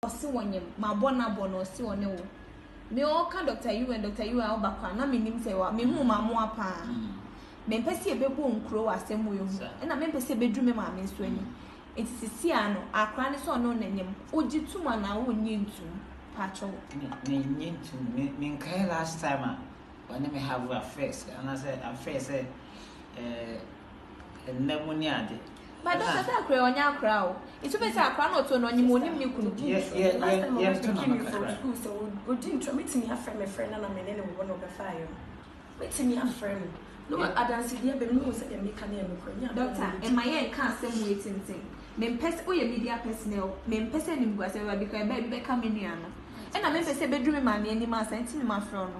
Ɔse wɔnyem mabɔ nabɔ na ɔse ɔne wo Me ɔɔka Doctor Yuwen Doctor Yuwen awo bakwa na menim sɛ wa Mehuu mamoa paa Mempɛ sɛ yɛbɛbɔ nkuro wɔ asɛm wei ho Ɛna mempɛ sɛ ɛbɛduru me maame nso anim Nti sisi a no akora ne sɛ ɔne wo na nyem Wogye tum anaa wonnye ntum Paatwɔ wo Me mennye ntum Me menkae last time a ɔne me have affairs Anaasɛ affairs sɛ eh Ɛnnɛ mo ne ade. Ba dɔ sɛ sɛ akora yɛ ɔnyɛ akora o. Nti bɛ sɛ akora na ɔtɔ no ɔnyim ɔnim ne kunu. Yɛ yɛ yɛ yɛ nto na no kakra. School sɛ odi ntra metumi afrɛ me frɛ na na me ne ne wɔ na ɔbɛfa ayɛ no metumi afrɛ no na wɔ adanse deɛ bɛ mu sɛ deɛ meka ne yɛ no korɛ nyɛ abɛn. Dɔkta ɛma yɛ nka asɛm wei tenten me mpɛ sɛ woyɛ media personnel me mpɛ sɛ animguase bɛba bikɔ ɛbɛ bi bɛka me nua no ɛna me mpɛ sɛ ɛbɛduru me maame anim ansa nti me ma frɛ no.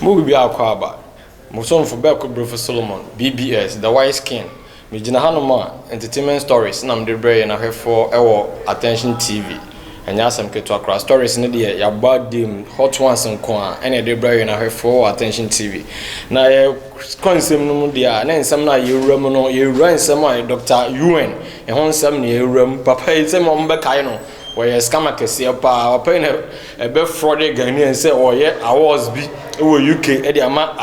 Mo biribi akɔ aba. Mo somfo Berko Brofo Solomon, BBS, The Wise King. Megyina hanom a, entertainment stories na mede rebrɛ yɛn ahwɛfoɔ wɔ Attention TV. Ɛnyɛ asɛm ketewa koraa, stories no deɛ yɛabɔ abim, hot ones nko ara na yɛde rebrɛ yɛn ahwɛfoɔ wɔ Attention TV. Na yɛ. Sukuansɛm no mu deɛ a, ne nsɛm no a yɛwura mu no, yɛwura nsɛm a Dɔkta Yuen, ne ho nsɛm na yɛwura mu. Papa yi, sɛdeɛ wɔbɛkae no, ɔyɛ scam akɛseɛ pa ara. Papa yi na ɛbɛfrɔɔdee Ghanaians sɛ ɔreyɛ awards bi wɔ UK de ama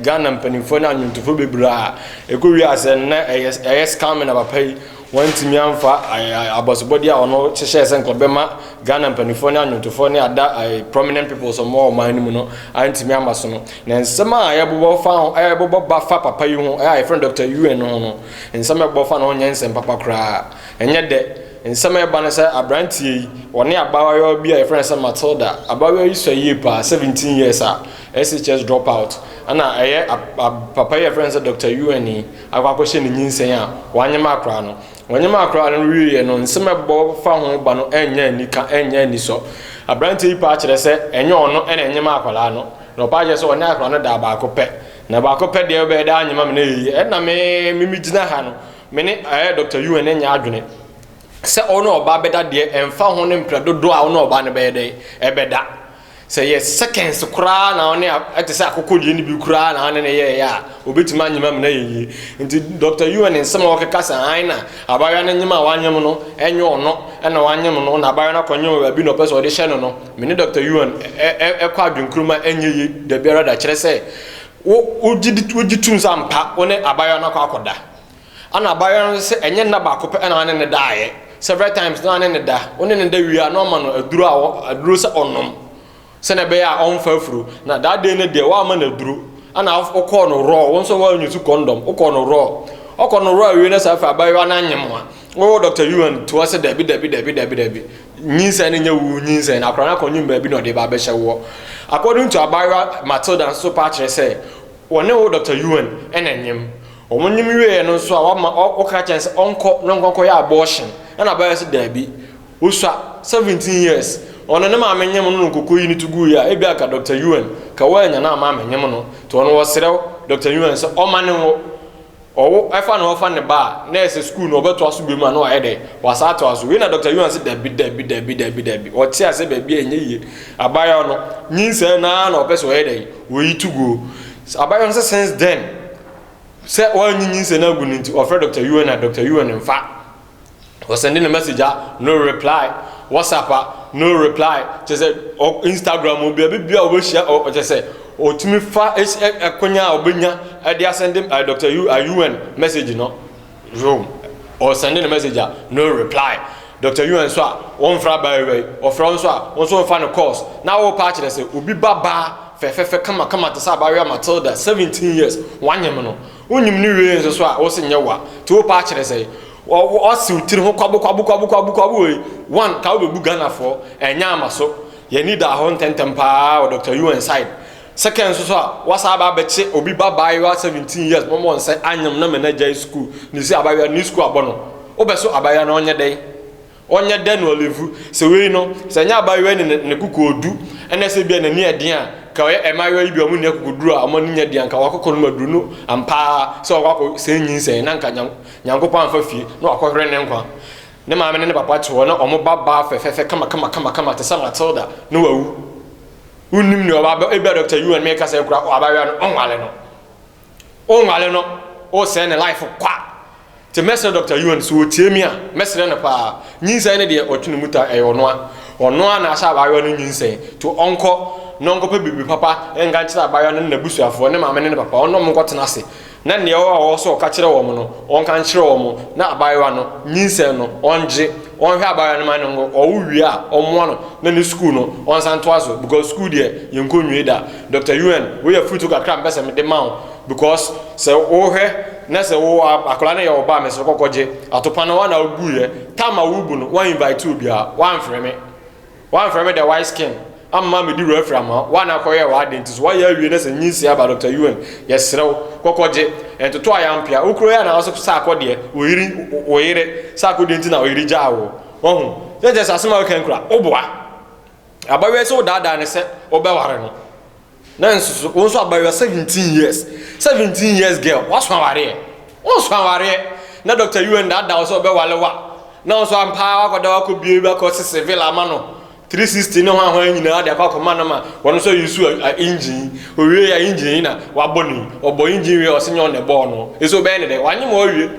Ghana mpanimfoɔ ne anwontofoɔ bebree a ɛkɔwie a sɛ nnɛ ɛyɛ ɛyɛ scamming na papa yi wantumi amfa abɔsobɔdeɛ a ɔno hyehyɛɛ sɛ nka ɔbɛma Ghana mpanimfoɔ ne anwontofoɔ ne ada prominent people sɛ wɔn wɔ ɔman no mu no antumi ama so no. Na nsɛm a yɛbobɔ fa ho, yɛbobɔ ba fa papa yi ho, a yɛfrɛ no Dɔkta Yuen no ho no, nsɛm a ɛbobɔ fa ne ho nyɛ nsɛm papa koraa. Ɛnyɛ dɛ. Nsɛm a ɛba ne sɛ aberanteɛ yi, ɔne abaayewa bi a yɛfrɛ no sɛ Matilda. Abaayewa yi sua yie paa, seventeen years a, SHS drop out. Ɛna ɛyɛ papa yi a yɛfrɛ no sɛ Dɔkta Yuen yi akɔ akɔhyɛ ne nyinsɛn a wanyem akora no. Wanyem akora no wieeɛ no, nsɛm a ɛbobɔ fa ho ba no nyɛ anika, ɛnyɛ anisɔ. Aberanteɛ yi pɛ akyerɛ sɛ ɛnyɛ ɔno na ɛnyem akwadaa no. Na ɔpaa kyerɛ sɛ ɔne akora no daa baako pɛ. Na baako pɛ deɛ wobɛyɛ daa nyema me na ɛyɛ yie. Ɛna me, me me gyina ha no, me ne ɛɛ Dɔkta Yuen nyɛ adwene sɛ ɔne ɔbaa bɛda deɛ ɛmfa ho ne mprɛ dodoɔ a ɔne ɔbaa no bɛyɛ dɛ ɛbɛda. Sɛ yɛ seconds koraa na ɔne a, ɛte sɛ akokɔ deɛ ne bi koraa na ɔne ne yɛɛyɛ a, ɔbɛtumi anyema me na ɛyɛ yie. Nti Dɔkta Yuen nsɛm a ɔkeka sɛ ae na abaayewa no nyema a wanyem no, ɛnyɛ ɔno na wanyem no, na abaayewa no akɔnyem wɔ baabi na ɔpɛ sɛ ɔde hyɛ no no, Me ne Dɔkta Yuan kɔ adwenkurom ma ɛnyɛ yie da biara da, kyerɛ sɛ, wo, wogye di, wogye tom sɛ ampa wo ne abaayewa no akɔ akɔda. Ɛna abaayewa no nso sɛ ɛnyɛ nna baako pɛ na ɔne no daeɛ, several times na ɔne no da. Wo ne no da wie a na ɔma no aduro a wɔ, aduro sɛ ɔnnom sɛdeɛ ɛbɛyɛ a ɔmfa afuro. Na that day no deɛ woamma no aduro, ɛna wokɔɔ no raw, wo nso woanyi so kɔndɔm, wokɔɔ no raw. Ɔkɔ no raw awie no saa afei abaayewa no anyem a, wo Dɔkta Yuan toa sɛ dabi, dabi, dabi, dabi, dabi. Nyinsɛn no nyɛ wo nyinsɛn, akora no akɔnwom baabi na ɔde ba abɛhyɛ woɔ. According to abaayewa Matilda nso paa kyerɛ sɛ wɔne wo Doctor Yuan na ɛnyem. Wɔn nyem wieɛ no nso a wama woka kyerɛ no sɛ ɔnkɔ na ɔnkɔ nkɔyɛ abortion ɛna abaayewa sɛ daabi, wosua, 17 years, ɔno ne maame nyem no na ɔkɔkɔ yi no to guiɛ a, ebia anka Doctor Yuan ka woannya na ama amɛnyem no, nti ɔno ɔsrɛ Doctor Yuan sɛ ɔmane wo. Ɔwo ɛfa ne ho fa ne ba a, na ɛsɛ sukuu no ɔbɛtoa so bio ma no ayɛ dɛn? Wasan atoa so. Wei na Dɔkta Yuan se dabi, dabi, dabi, dabi, dabi. Ɔte aseɛ baabi a ɛnyɛ yie. Abaayewa no, nyinsɛn no ara na ɔpɛ sɛ ɔyɛ dɛn? Ɔyi to go. Abaayewa no se since then, sɛ wanyi nyinsɛn no agu no nti, ɔfrɛ Dɔkta Yuan a, Dɔkta Yuan mfa. ɔsɛnde ne message a no reply whatsapp a no reply kyerɛ sɛ ɔ instagram o baabi bia ɔbɛhyia ɔ ɔkyerɛ sɛ ɔtumi fa ɛsi ɛ ɛkonya a ɔbɛnya ɛde asɛnde ɛ dr u ɛ un message no yo ɔsɛnde ne message a no reply dr un nso a wɔmfra abaayewa yi ɔfrɛ wo nso a wo nso wɔmfa no course na wopa akyerɛ sɛ obi ba baa fɛfɛfɛ kamakama te sɛ abaayewa matilda 17 years wanyem no Wonyim no wiei nso so a wo se nyɛ wo a, nti wo paa kyerɛ sɛn? Ɔse wo tiri ho kwabu kwabu kwabu kwabu kwabu wei, one ka wo bɛ bu Ghana foɔ, ɛnyɛ ama so, yɛn ani daa hɔ ntɛntɛm paa wɔ Doctor UN side, second nso so a w'asan aba abɛkye obi ba abaayewa seventeen years ma ɔmɔ nsɛ anyem no mɛ no agyae school, ne se abaayewa no ne school abɔ no, wo bɛ so abaayewa no ɔnyɛ dɛn? Ɔnyɛ dɛ na ɔlevu. Sɛ wei no, sɛ nyɛ abayewa yi ne ne kokoɔdu na sɛ ebia n'ani yɛ den a, nka ɔyɛ mmaayewa yi bi a wɔn nni akokoduru a wɔn ani nyɛ den a, nka wakɔkɔ nom aduru no ampa ara sɛ ɔkɔ akɔ sɛe nyinsɛn na nka Nyankopɔn amfa fie na wakɔhwere ne nkwa. Ne maame ne ne papa te hɔ na wɔn ba baa fɛfɛɛfɛ kamakamakama te sɛ Matilda na wawu. Wonnim nea ɔba, ebia Dɔkta Yuan, merekasa yi koraa, abayewa no, wɔnware no. Wo nware no wo sɛe ne life kwa nti mɛsrɛ Doctor Yuan sɛ ɔtie me a mɛsrɛ no paa nyinsɛn no deɛ ɔtwe ne mu ta ɛyɛ ɔnoa ɔnoa na ahyɛ abaayewa no nyinsɛn nti ɔnkɔ na ɔnkɔpɛ biribi papa nka nkyerɛ abaayewa no ne n'abusuafoɔ ne maame ne ne papa ɔne ɔmo nkɔtena ase na nea ɔwɔ a ɔwɔ sɛ ɔka kyerɛ wɔn no ɔnka nkyerɛ wɔn na abaayewa no nyinsɛn no ɔngye ɔnhwɛ abaayewa no ma no ɔwo wie a ɔmmoa no na ne sukuu no ɔnsan toa so because sukuu deɛ yɛnkɔ nwie da Doctor Yuan, wei yɛ afurutu kakra a mepɛ sɛ mede ma wo because sɛ wohwɛ na sɛ wo akwadaa no yɛ wo ba a, mesrɛ kɔ kɔgye. Atopa no, woa na woguiɛ. Tam a worebu no, woan invite obiara, woamfrɛ me. Woamfrɛ me the white skin amma medi referee ama wo. Woa na kɔyɛɛ w'ade nti so. Woayɛ awie na sɛ nyinsee aba a, Doctor Yuan, yɛsrɛ wo, kɔ kɔgye. Ntoto a yɛampia. Wo kura yi a na wo so sɛ akɔdeɛ, wo yere, wo yere sɛ akɔdeɛ nti na wo yere gyaa wo. Wahu? Sɛ nkyɛ sɛ asɛm a woka yi koraa, woboa. Abayewa yi sɛ wodaadaa no sɛ wobɛware no na nso so wo nso abayewa seventeen years seventeen years girl waso awareɛ wonso awareɛ na Dr. UN daadaa wo sɛ wobɛware wa na wo nso ampaa wakɔda wakɔ bie bi akɔ sese villa ama no 360 ne ho ahoa nyinaa de akɔ akɔma no ma wɔn nso yi so a engine owie ya engine yi na wabɔ ne ɔbɔ engine wie ɔsɛ nyɛ ɔna ɛbɔɔ no ɛsɛ wobɛyɛ ne dɛ wanyɛ ma ɔwie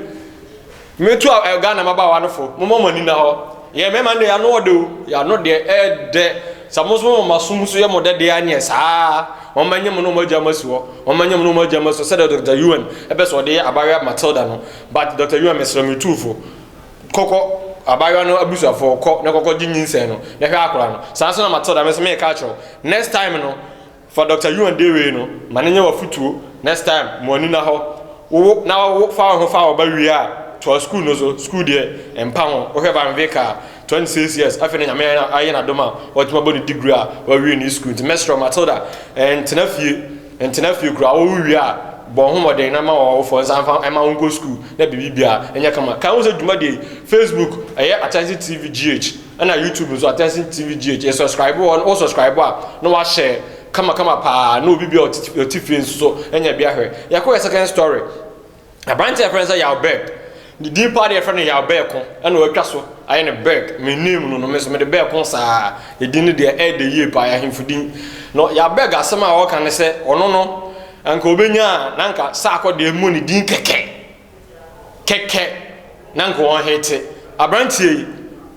Metu a ɛ Ghana mmabaawa no fo, momma mo ani nna hɔ. Yɛn mmarima no deɛ, yɛn ano ɔdɛ o, yɛn ano deɛ ɛɛdɛ. Sɛ mo nso moma mo asom nso yɛ mo dɛ deɛ a, ɛneɛ saa ara. Wɔmmɛnyɛ mo ne wɔn agya mo asi hɔ, wɔmmɛnyɛ mo ne wɔn agya mo asi hɔ, sɛdeɛ Doctor Yuan pɛ sɛ ɔde yɛ abaayewa Matilda no. But Doctor Yuan, mesrɛ wo, metu wo fo, kɔkɔ abaayewa no abusuafoɔ hɔ, kɔ na kɔkɔgye nyinsɛn no, na hwɛ akwadaa no. Saa ara nso na Matilda, me nso meeka akyerɛ wo, next time no, Fa Doctor Yuan de wei no ma no nyɛ w'afotuo next time mo ani nna hɔ wowo na wo fa wo ho fa wo ba wie a toa school no so school deɛ ɛmpa ho wohwɛ Van Vick a 26 years afei na Nyame ayɛ no adom a watumi abɔ ne degree a wawie ne school nti mɛsrɛ wo Matilda ntena fie ntena fie koraa wo wie a bɔ wo ho mmɔden na ma w'awofoɔ nsa mfa mma wo nkɔ school na biribi biara nyɛ kama kae ho sɛ dwumadie yi Facebook ɛyɛ Akyɛnse TV GH. ɛna YouTube nso attention tv gh yɛ subscribe wɔ wɔ subscribe a na wahyɛ kamakama paa na obi bia ɔte fie nso so ɛnyɛ bia hwɛ yɛkɔ yɛ second story aberante yɛfrɛ no sɛ yaw berg ne din paa deɛ yɛfrɛ no yaw berg ko ɛna watwa so ayɛ no berg me name no no me so mede berg ko saa ɛdin no deɛ ɛyɛ de yie paa yɛahemfo din no yaw berg asɛm a ɔka ne sɛ ɔno no anka ɔbɛnya a na anka saa akɔ deɛ mmɔ ne din kɛkɛ kɛkɛ na nka wɔn hete abranteɛ yi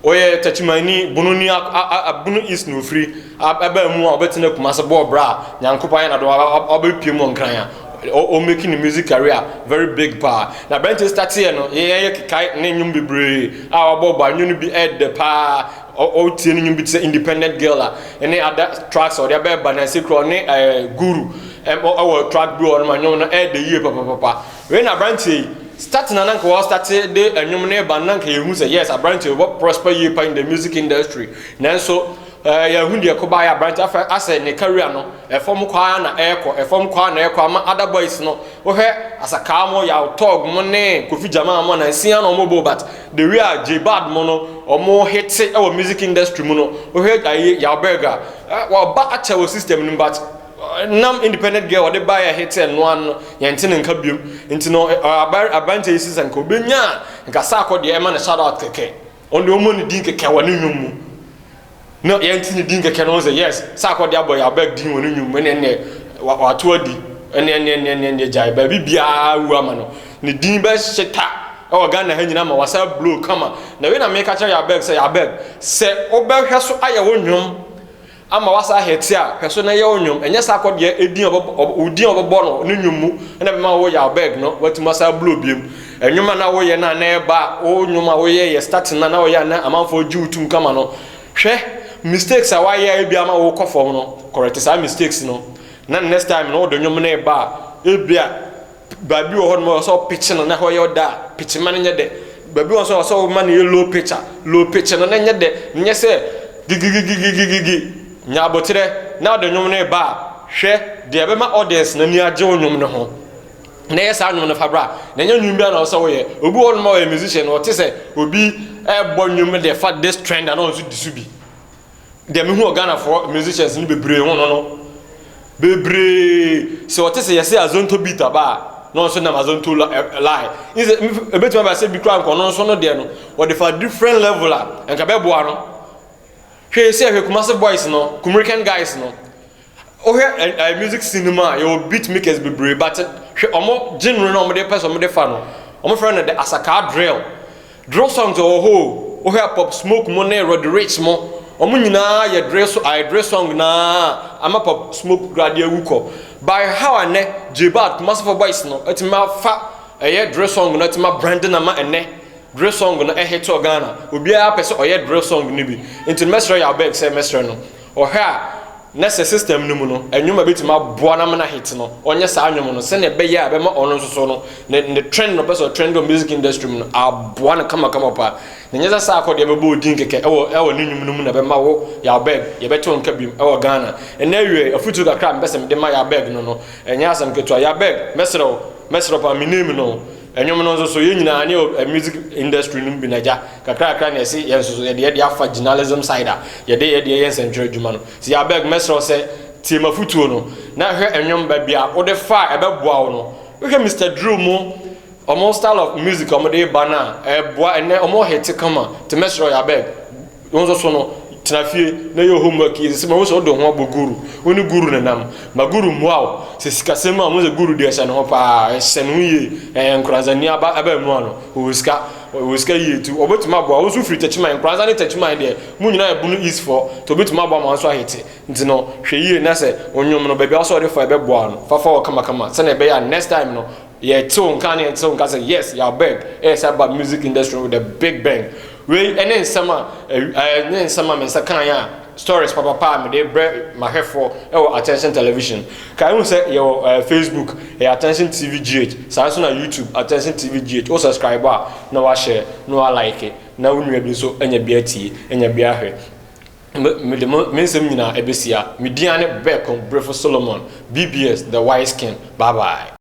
ɔyɛ takyimani bono ni bono east na ofiri abaa mu a ɔbɛtena kumase bɔɔ bra a nyankopɔn ayɛ nado ɔbɛpie mu ɔnkran a ɔmɛki ne music career very big paa na abranteɛ stateɛ no yɛyɛ kekae ne nnwom bebree a ɔbɔ bɔ anwom no bi ɛdɛ paa ɔtie ne nnwom bi te sɛ independent girl a ɛne ada tracks a ɔde abɛɛba na ɛsɛ kura ɔne guru ɛwɔ track bi wɔ no ma nnwom no ɛdɛ yie papapapa Wei na abranteɛ yi start na na nka wa start de ɛnwom ne ba na nka yɛhu sɛ yes abranteɛ wɔ prosper yie pa in the music industry nanso eh, yɛhu deɛ kɔba yɛ abranteɛ afɛ asɛ ne career no ɛfam kwaa na ɛkɔ ɛfam kwaa na ɛkɔ ama other boys no wohwɛ asakaa mo yaw tog mo ne kofi jama mo nansia na ɔmo bo but the way a j bad mo no ɔmo hete ɛwɔ music industry mu no wohwɛ ayi yaw berg a eh, wɔba akyɛ wɔ system no but Nam independent girl a ɔde baeɛ a ɛhete ɛno ano no, yɛnte ne nka biom. Nti no, aberanteɛ yi se sɛ nka ɔbɛnya a, nka Sarko deɛ ɛma no shout out kɛkɛ. Ɔno deɛ ɔmmɔ ne din kɛkɛ wɔ ne nnwom mu. Na yɛnte ne din kɛkɛ no ho sɛ yes, Sarko deɛ abɔ Yabag din wɔ ne nnwom mu, ɛneɛ neɛ wato adi. Ɛneɛ neɛ neɛ neɛ neɛ gyae, baabi biara awu ama no. Ne din bɛhyeta wɔ Ghana ha nyinaa ma wasan blow kama. Na wei na meka kyerɛ Yabag sɛ, Yabag, sɛ wobɛhwɛ so ayɛ wo nnwom, ama w'asa ahɛ tse a, pɛ so na yɛ wo nwom. Nnyɛ saa kɔbea edin a wɔbɔbɔ, ɔbɔ, wo din a wɔbɔbɔ no no nwom mu na bɛma wo yaw bag no, woetum asa ablow bio mu. Nwom a nna woyɛ no a nna ɛba a, wo nwom a woyɛe yɛ starting no a na ɔyɛ a nna amamfoɔ gye wo tum kama no, hwɛ mistakes a woayɛ a ebia ama wookɔ fɔm no, correct saa mistakes no na next time no wode nwom no reba a, ebia. Baabi wɔ hɔ nom a ɔwɔ sɛ wo pitch no na hɔ yɛ ɔdɛ a, pitch ma no nyɛ dɛ. Baabi wɔ hɔ so a ɔwɔ sɛ wo ma no yɛ low pitch a, low pitch no na nyɛ dɛ. Nyɛ sɛ gigigigigigigigi, nya aboterɛ na ɔde nwom no reba a, hwɛ deɛ ɛbɛma audience no ani agye wo nwom no ho na yɛ saa nwom no fa bra. Na nyɛ nwom biara na ɔwɔ sɛ wo yɛ. Obi wɔ hɔ nom a ɔyɛ musician, ɔte sɛ obi ɛɛbɔ nwom deɛ fa this trend a na ɔno nso di so bi. Deɛ mehu wɔ Ghanafoɔ musicians no bebree ho no no, bebree sɛ wɔte sɛ yɛsɛ Azonto beat aba a, na ɔno nso nam Azonto line. N sɛ ɛbɛtumi aba sɛ bi koraa nka ɔno nso no deɛ no, wɔde fa different level a, nka bɛboa no. Hwɛ yɛ sɛ hwɛ Kumasi boys no, Kumirican guys no. Wohwɛ ɛ ɛ music scene no mu a yɛwɔ beat makers bebree but hwɛ wɔn genre no a wɔde pɛ sɛ wɔde fa no wɔn frɛ no the asakaa drill drill songs wɔ hɔ o wohwɛ pop smoke mo ne roddy rich mo wɔn nyinaa yɛ drill so ayɛ drill song na ama pop smoke koraa de awu kɔ by how a nɛ j bad kumasi for boys no atumi afa ɛyɛ drill song no atumi abrande na ma ɛnɛ drill song no ɛhit wɔ ghana obiara pɛ sɛ ɔyɛ drill song no bi nti mɛsrɛ yɛ abeg sɛ mɛsrɛ no Ɔhwɛ a, na sɛ system no mu no, nnwom a ɛbɛtumi aboa no ama no ahit no, ɔnyɛ saa nnwom no sɛdeɛ ɛbɛyɛ a ɛbɛma ɔno nso so no, ne ne trend no ɔpɛ sɛ ɔtrɛnde wɔ music industry mu no aboa no kamakama pa. Na ɛnyɛ sɛ saa akɔ deɛ ɛbɛbɔ wo din kɛkɛ wɔ wɔ ne nnwom no mu na ɛbɛma wo Yawberg yɛbɛte wo nka biom wɔ Ghana. Ɛnnɛ awiei, afotuo kakra a mepɛ sɛ mede ma Yawberg no no, ɛnyɛ asɛm ketewa. Yawberg, mɛsrɛ wo, mɛsrɛ wo paa, me name no. Ɛnwom no nso so, yɛn nyinaa ne yɛ wɔ music industry no mu bi na agya kakra kakra na yɛse yɛn nso so yɛde yɛ deɛ afa journalism side a yɛde yɛ deɛ yɛ nsɛntwerɛ adwuma no. Nti I beg mɛsrɛ wo sɛ tie m'afotuo no na hwɛ ɛnwom baabi a wode fa a ɛbɛboa wo no. Wohwɛ Mister Drill mo wɔn style of music a wɔde reba no a ɛboa ɛnnɛ wɔn hete kama nti mɛsrɛ wo yɛ I beg Wo nso so no, tena fie na yɛ wo homework yie. Ɛsɛ sɛ mahu sɛ wode wo ho abɔ Guru. Wo ne Guru na nam. Ma Guru mmoa wo. Sɛ sikasɛm a, hu sɛ Guru deɛ hyɛ ne ho paa. Hyɛ ne ho yie. Ɛɛ Nkoranza ni aba aba mu ano. Ɔwɔ sika. Ɔwɔ sika yie nti ɔbɛtumi aboa wo. Wo nso firi Techiman. Nkoranza ne Techiman deɛ, mo nyinaa yɛ Bono East foɔ nti ɔbɛtumi aboa ma wo nso ahete. Nti no, hwɛ yie na sɛ wo nnwom no, baabi a wo sɛ wode fa a ɛbɛboa wo no, fa fa hɔ kamakama sɛdeɛ ɛbɛyɛ a next time no, Yɛ tew nka ne ntew nka sɛ yes yɛ abeg ɛyɛ sɛ aba music industry no with a big bang wei ɛne nsɛm a ɛne nsɛm a me nsa kan yɛ a stories papapa a mede brɛ mahwɛfoɔ ɛwɔ attention television ka ehu sɛ yɛwɔ ɛɛ facebook ɛyɛ attention tv gh saa nso na youtube attention tv gh wo subscribe a na wahyɛ na wa like na wo nua bi nso anya bi atie anya bi ahwɛ Me, mede mo, me nsɛm nyinaa ɛbɛsia. Me din ara ne Bɛɛko Berefo Solomon, BBS, The Wise King. Bye bye.